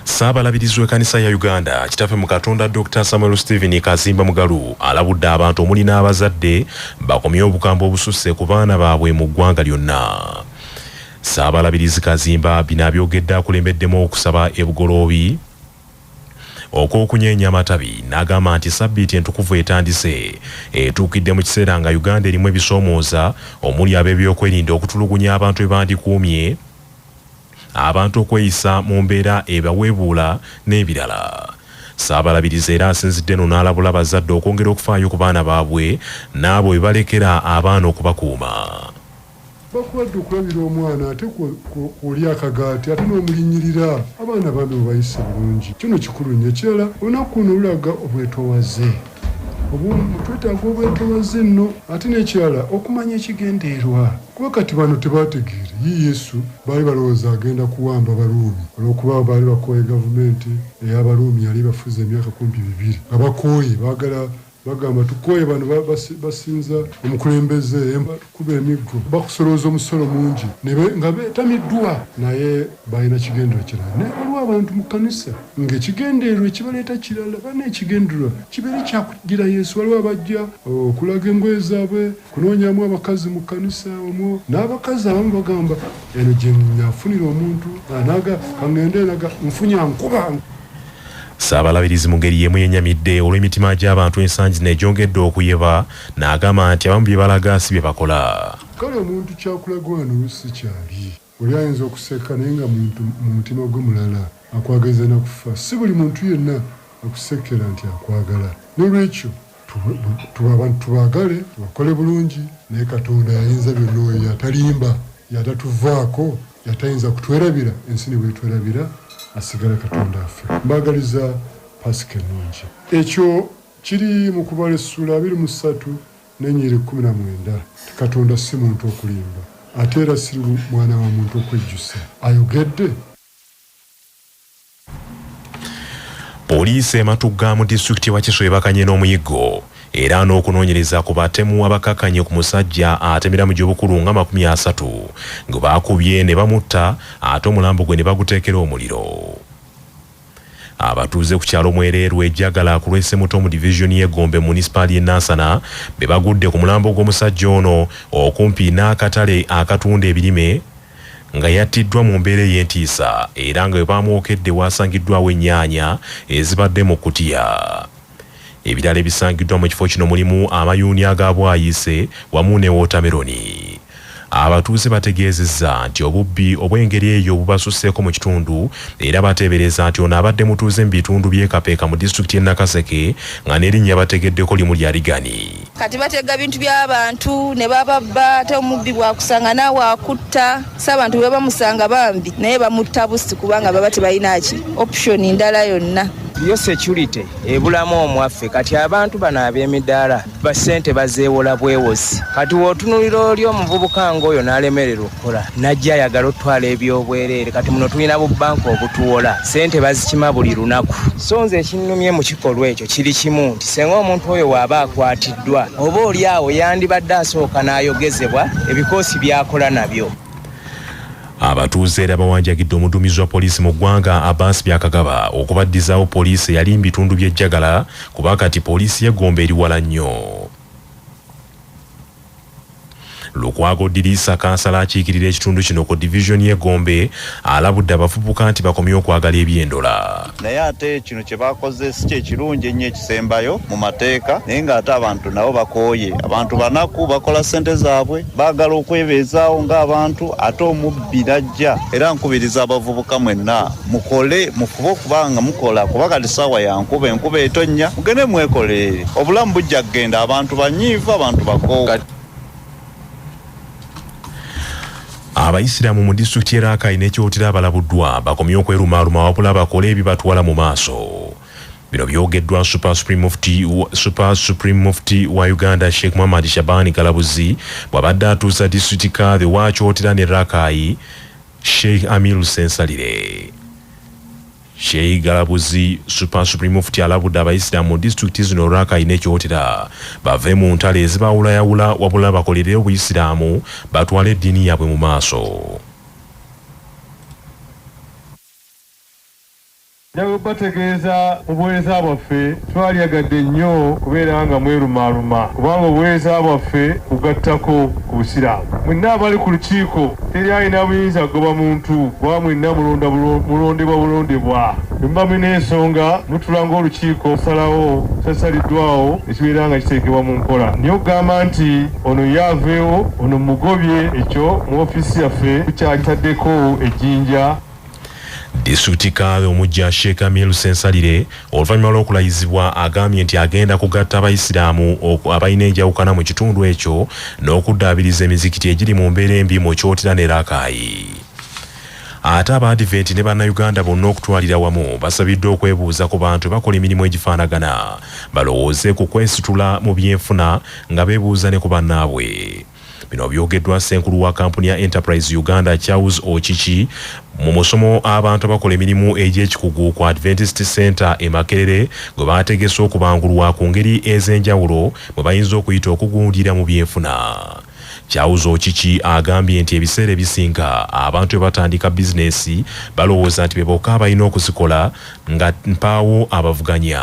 Ssaabalabirizi w'ekkanisa ya Uganda Kitaffe mu Katonda Dokita Samuel Stephen Kazimba Mugalu alabudde abantu omuli n'abazadde bakomye obukambwe obususse ku baana baabwe mu ggwanga lyonna. Ssaabalabirizi Kazimba bino abyogedde akulembeddemu okusaba e Bugoloobi okw'okunyeenya amatabi n'agamba nti ssabbiiti entukuvu etandise etuukidde mu kiseera nga Uganda erimu ebisoomooza omuli ab'ebyokwerinda okutulugunya abantu bebandikuumye abantu okweyisa mu mbeera ebaweebuula n'ebirala. Ssaabalabirizi era asinzidde eno n'alabula abazadde okwongera okufaayo ku baana baabwe n'abo be balekera abaana okubakuuma. Kuba kulwadde okulabira omwana ate kw'olya akagaati ate n'omulinnyirira. Abaana bambi mubayise bulungi kyo nno kikulu nnyo. Ekirala olunaku luno lulaga obwetowaze obw'omu, twetaaga obwetowaze nno ate n'ekirala okumanya ekigenderwa. Kuba kati bano tebaategeere ye Yesu, baali balowooza agenda kuwamba Baruumi, olw'okuba baali bakooye gavumenti ey'Abaruumi yali ebafuze emyaka kumpi bibiri nga bakooye, baagala, bagamba, tukooye bano ba, basi, basinza omukulembeze, bakuba emiggo, bakusolooza omusolo mungi, ne be, nga beetamiddwa. Naye baalina kigendererwa kirala. Naye waliwo abantu mu kkanisa nga ekigendererwa ekibaleeta kirala. Banno ekigendererwa kibeere kya kuddira Yesu. Waliwo abajja okulaga engoye zaabwe. Kunoonyamu abakazi mu kkanisa omwo. N'abakazi abamu bagamba, Eno gye nnafunira omuntu anaaga ka ŋŋende eraga nfunye ankuba. Ssaabalabirizi mu ngeri y'emu yennyamidde olw'emitima gy'abantu ensangi zino egyongedde okuyeba n'agamba nti abamu bye balaga si bye bakola. Kale omuntu ky'akulaga wano oluusi si ky'ali. Oli ayinza okuseka naye nga muntu mu mutima gwe mulala akwagaliza na kufa. Si buli muntu yenna akusekkera nti akwagala. N'olwekyo tuwe abantu tubaagale, tubakole bulungi. Naye Katonda y'ayinza byonna oyo y'atalimba, y'atatuvaako, y'atayinza kutwerabira ensi ne bw'etwerabira asigala Katonda waffe. Mbaagaliza Paasika ennungi. Ekyo kiri mu Kubala essuula abiri mu ssatu N'ennyiriri kkumi na mwenda, nti, Katonda si muntu okulimba, ate era si mwana wa muntu okwejjusa. Ayogedde? Poliisi e Matugga mu disitulikiti ye Wakiso ebakanye n'omuyiggo era n'okunoonyereza ku batemu abakakanye ku musajja atemera mu gy'obukulu nga makumi asatu gwe baakubye ne bamutta ate omulambo gwe ne baguteekera omuliro. Abatuuze ku kyalo Mwereerwe e Jagala ku lw'e Ssemuto mu divizoni y'e Gombe mu munisipaali y'e Nansana be bagudde ku mulambo gw'omusajja ono okumpi n'akatale akatunda ebirime nga yattiddwa mu mbeera ey'entiisa era nga we baamwokedde waasangiddwaawo ennyaanya ezibadde mu kkutiya. Ebirala ebisangiddwa mu kifo kino mulimu amayuuni aga bwayiise wamu ne wootameroni. Abatuuze bategeezezza nti obubbi obw'engeri eyo bubasusseeko mu kitundu era bateebereza nti ono abadde mutuuze mu bitundu by'e Kapeeka mu disitulikiti y'e Nakaseke nga n'erinnya bategeddeko limu lya Rigani. kati batega bintu byabantu ne bababba ate omubbi bwakusanga naawe akutta si abantu bwe bamusanga bambi naye bamutta busi kubanga baba tebalinaki option ndala yonna yo security ebulamu omwaffe kati abantu bano ab'emidaala basente bazeewola bwewozi kati wootunulira oli omuvubuka ngaoyo n'alemererwa kola najja ayagala otwala ebyobwereere kati muno tulina bu banka obutuwola sente bazikima buli lunaku so nze ekinnumye mu kikolwa ekyo kiri kimu nti senga omuntu oyo waaba akwatiddwa oba oli awo yandibadde asooka n'ayogezebwa ebikoosi byakola nabyo Abatuuze era bawanjagidde omuduumizi wa poliisi mu ggwanga Abbas Byakagaba okubaddizaawo poliisi eyali mu bitundu by'e Jagala kuba kati poliisi y'e Gomba eri wala nnyo. Lukwago Diriisa kansala akiikirira ekitundu kino ku Division ye Gombe alabudde abavubuka nti bakomye okwagala ebyendola. Naye ate kino kye bakoze si kye kirungi ennyo ekisembayo mu mateeka naye ng'ate abantu nabo bakooye. Abantu banaku, bakola ssente zaabwe, baagala okwebeezaawo ng'abantu ate omubbi. birajja era nkubiriza abavubuka mwenna mukole mufube okuba nga mukola kuba kati saawa ya nkuba enkuba etonnya mugende mwekolerere obulamu bujja kugenda abantu banyiivu abantu bakoowa abayisiraamu mu disitulikiti y'e rakai ne kyotera abalabuddwa bakomye okwerumaaluma wabula bakole ebibatwala mu maaso Bino byogeddwa Super Supreme Mufti, Super Supreme Mufti wa Uganda Sheikh Muhammad Shabani Galabuzi bw'abadde atuusa District Kadhi wa Kyotera ne Rakai Sheikh Amir Ssensalire. Sheikh Galabuzi Super Supreme Mufti alabudde abayisiraamu mu disitulikiti zino Rakai ne Kyotera bave mu ntalo ezibaawulayawula wabula bakolere obuyisiraamu batwale eddiini yaabwe mu maaso. Nja kubategeeza mu buweereza bwaffe twalyagadde nnyo kubeera nga mwerumaaluma kubanga obuweereza bwaffe bugattako ku Busiraamu. Mwenna abali ku lukiiko teri alina buyinza kugoba muntu kuba mwenna mulonda mulondebwa bulondebwa. Bwe muba mulina ensonga mutuula ng'olukiiko ne tusalawo ekisasaliddwaawo ne kibeera nga kiteekebwa mu nkola naye okugamba nti ono ye aveewo ono mmugobye ekyo mu ofiisi yaffe tukyakitaddeko ejjinja. Disitulikiti Kadhi omuggya Sheikh Amir Ssensalire oluvannyuma lw'okulayizibwa agambye nti agenda kugatta abayisiraamu abalina enjawukana mu kitundu ekyo n'okuddaabiriza emizikiti egiri mu mbeera embi mu Kyotera ne Rakai. Ate abaadiventi ne bannayuganda bonna okutwalira wamu basabiddwa okwebuuza ku bantu bakola emirimu egifaanagana balowooze ku kwesitula mu byenfuna nga beebuuza ne ku bannaabwe. Bino byogeddwa ssenkulu wa kampuni ya Enterprise Uganda Charles Okiki mu musomo abantu abakola emirimu egy'ekikugu ku Adventist Center e Makerere gwe baategese okubangulwa ku ngeri ez'enjawulo mwe bayinza okuyita okugundira mu byenfuna. Charles Okiki agambye nti ebiseera ebisinga abantu bwe batandika bizinesi balowooza nti be bokka abalina okuzikola nga mpaawo abavuganya.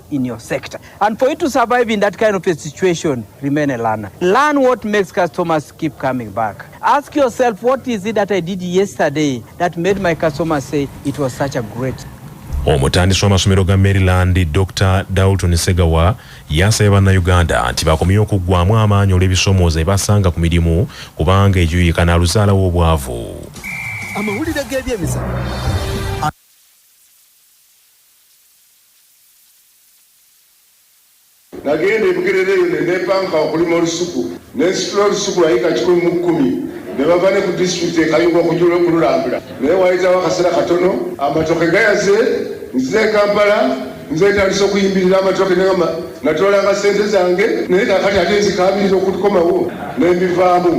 in your sector. And for you to survive in that kind of a situation, remain a learner. Learn what makes customers keep coming back. Ask yourself, what is it that I did yesterday that made my customers say it was such a great omutandisi w'amasomero ga maryland dr dalton segawa yasabye bannayuganda nti bakomye okuggwamu amaanyi olw'ebisomooza ebasanga ku mirimu kubanga egyuyika naluzaalawo obwavu amawulire g'ebyemizanyo Nagenda e Bugerere eyo ne neepanka okulima olusuku ne nsitula olusuku lwa yiika kikumi mu kkumi ne bava ne ku disitulikiti e Kayunga okujula okululambula naye waayitawo akaseera katono amatooke gayaze nzire e Kampala nze ntandise okuyimbirira amatooke ne nga natoolanga ssente zange naye kaakati ate nzikaabirira okukomawo ne mbivaamu.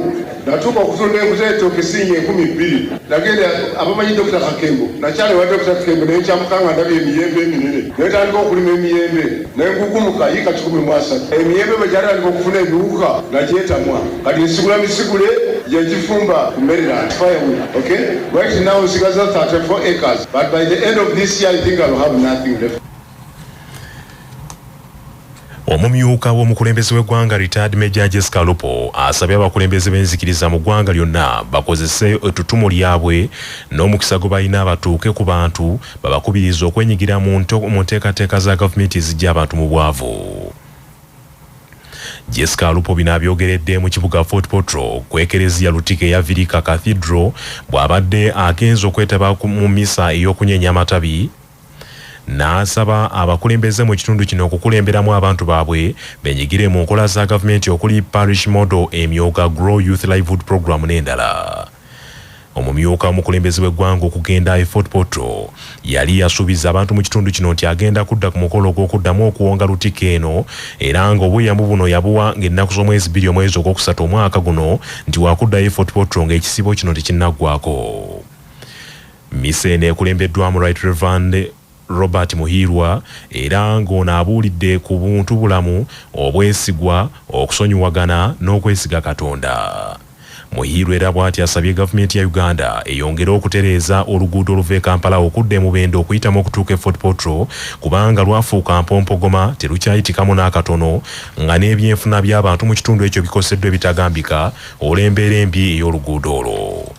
Natuuka okutunda enku z'etooke ssiinya enkumi bbiri. Nagenda abamanyi Dokita Kakembo, nakyala ewa Dokita Kakembo ne nkyamuka nga ndabye emiyembe eminene. Ne ntandika okulima emiyembe ne ngugumuka yiika kikumi mu asatu. Emiyembe bwe gyatandika okufuna ebiwuka nagyetamwa. Kati nsigula misigule gye njifumba ku mmereland, firewood, ok? Right now nsigazza thirty four acres but by the end of this year I think I'll have nothing left. Omumyuka w'omukulembeze w'eggwanga Retired Major Jessica Alupo asabye abakulembeze b'enzikiriza mu ggwanga lyonna bakozese ettutumu lyabwe n'omukisa gwebalina batuuke ku bantu babakubirize okwenyigira mu nteekateeka za gavumenti eziggya abantu mu bwavu. Jessica Alupo bino abyogeredde mu kibuga Fort Portal ku ekereziya Lutika eya Virika Cathedral bw'abadde agenze okwetaba mu mmisa ey'okunyeenya amatabi n'asaba abakulembeze mu kitundu kino okukulemberamu abantu baabwe benyigire mu nkola za gavumenti okuli Parish Model, Emyooga, Grow Youth Livelihood Program n'endala. Omumyuka omukulembeze w'eggwanga okugenda e Fort Portal yali yasuubiza abantu mu kitundu kino nti agenda kudda ku mukolo ogw'okuddamu okuwonga Lutikko eno era ng'obweyamo buno yabuwa ng'ennaku z'omwezi bbiri omwezi ogwokusatu omwaka guno nti wakuddayo e Fort Portal ng'ekisiibo kino tekinnaggwako. Mmisa eno ekulembeddwamu Right Rev. Robert Muhiirwa era ng'ono abuulidde ku buntu bulamu, obwesigwa, okusonyiwagana n'okwesiga Katonda. Muhiirwa era bwatyo asabye Gavumenti ya Uganda eyongere okutereeza oluguudo oluva e Kampala okudda e Mubende okuyitamu okutuuka e Fort Portal kubanga lwafuuka mpompogoma terukyayitikamu n'akatono nga n'ebyenfuna by'abantu mu kitundu ekyo bikoseddwa ebitagambika olw'embeera embi ey'oluguudo olwo.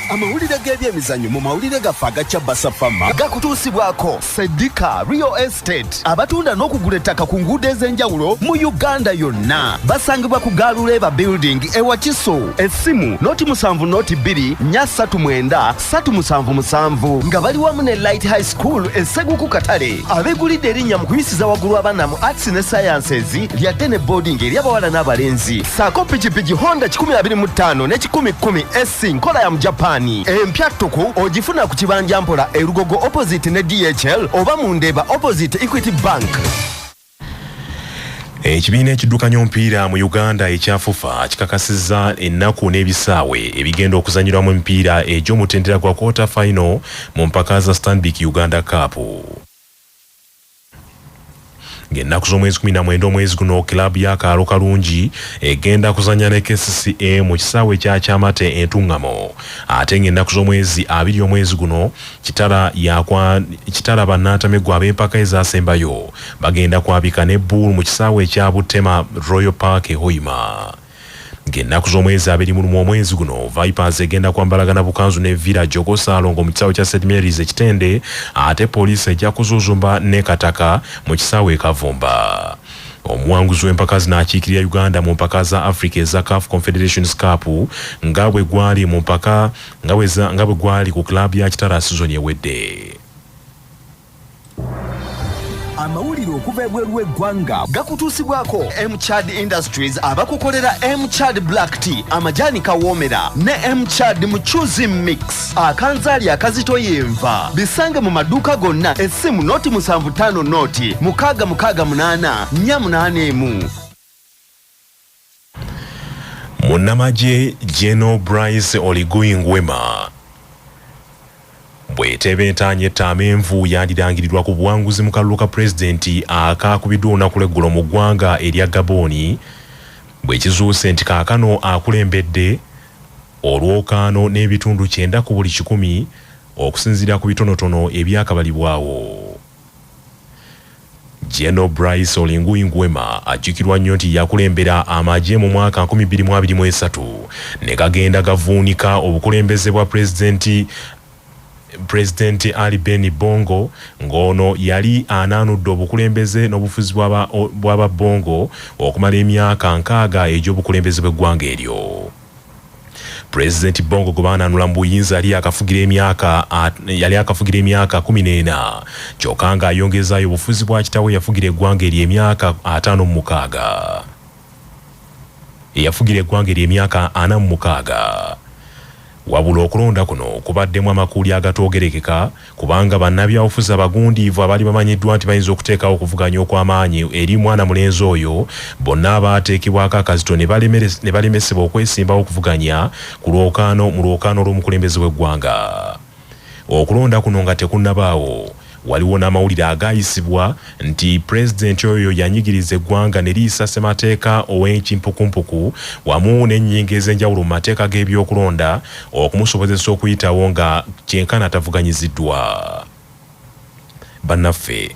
Amawulire g'ebyemizanyo mu mawulire gaffe aga Kyabasa Fama gakutuusibwako Sedika Real Estate abatunda n'okugula ettaka ku nguudo ez'enjawulo mu Uganda yonna. Basangibwa ku Gaaluleeba Building e Wakiso. Essimu noti musanvu noti bbiri nnya ssatu mwenda ssatu musanvu musanvu nga bali wamu ne light high school eseguku katale abegulidde erinnya mu kuyisiza waggulu abaana mu arts ne sciences lyadde ne boarding eri abawala n'abalenzi saako pikipiki honda 125 ne 110 sc nkola ya mu japaani empya ttuku ogifuna ku kibanja mpola erugogo opposite ne dhl oba mu ndeeba opposite equity bank Ekibiina ekiddukanya omupiira mu Uganda ekya FUFA kikakasizza ennaku n'ebisaawe ebigenda okuzanyirwamu emipiira egy'omutendera gwa quarter final mu mpaka za Stanbic Uganda Cup. Ng'ennaku z'omwezi kumi na mwenda omwezi guno club ya Kaalo Kalungi egenda kuzanya ne kcca mu kisaawe ekya Kyamate e Ntungamo ate ng'ennaku z'omwezi abiri omwezi guno Kitara yakwa Kitara bannantameggwa ab'empaka ezasembayo bagenda kwabika ne bbuulu mu kisaawe ekya Butema Royal Park e Hoima. Ng'ennaku z'omwezi abiri mu lumu omwezi guno, Vipers egenda kwambalagana bukanzu ne Villa Jogo Salongo mu kisaawe kya St Mary's e Kitende ate poliisi ejja kuzuuzumba ne Kataka mu kisaawe e Kavumba. Omuwanguzi w'empaka zino akiikirira Uganda mu mpaka za Africa eza CAF Confederations Cup nga bwe gwali mu mpaka nga bwe gwali ku club ya Kitara sizoni ewedde. amawulire okuva ebweru w'eggwanga gakutuusibwako mchad industries abakukolera mchad black tea amajaani kawoomera ne mchad mucuzi mix akanzaali akazito yenva bisange mu maduuka gonna essimu noti musanvu ttaano noti mukaaga mukaaga munaana nnya munaana emu Munnamagye Gen Brice Oligui Nguema bw'eteeba entaanya etta amenvu yandirangirirwa ku buwanguzi mu kalulu ka pulezidenti akaakubiddwa olunaku lw'eggulo mu ggwanga erya Gabooni bwe kizuuse nti kaakano akulembedde olwokaano n'ebitundu kyenda ku buli kikumi okusinziira ku bitonotono ebyakabalibwawo. General Brice Olinguyi Nguema ajjukirwa nnyo nti yakulembera amagye mu mwaka nkumi bbiri mu abiri mu esatu ne gagenda gavuunika obukulembeze bwa Pulezidenti Pulezidenti Ali Beni Bongo ng'ono yali anaanudde obukulembeze n'obufuzi bw'aba bw'aba Bongo okumala emyaka nkaaga egy'obukulembeze bw'eggwanga eryo. Pulezidenti Bongo gwe baananula mu buyinza yali yakafugira emyaka yali akafugira emyaka kumi n'ena kyokka ng'ayongezaayo obufuzi bwa kitaawe eyafugira eggwanga eryo emyaka ataano mu mukaaga eyafugira eggwanga eryo emyaka ana mu mukaaga wabula okulonda kuno kubaddemu amakuuli agatoogerekeka kubanga bannabyabufuzi abagundiivu abaali bamanyiddwa nti bayinza okuteekawo okuvuganya okw'amaanyi eri mwana mulenzi oyo bonna abaateekebwako akazito ne balemesebwa okwesimbawo okuvuganya ku lwokaano mu lwokaano olw'omukulembeze w'eggwanga. Okulonda kuno nga tekunnabaawo, waliwo n'amawulire agaayisibwa nti pulezidenti oyo yanyigiriza eggwanga ne liyisa ssemateeka ow'enkimpukumpuku wamu n'ennyingo ez'enjawulo mu mateeka g'ebyokulonda okumusobozesa okuyitawo nga kyenkana atavuganyiziddwa bannaffe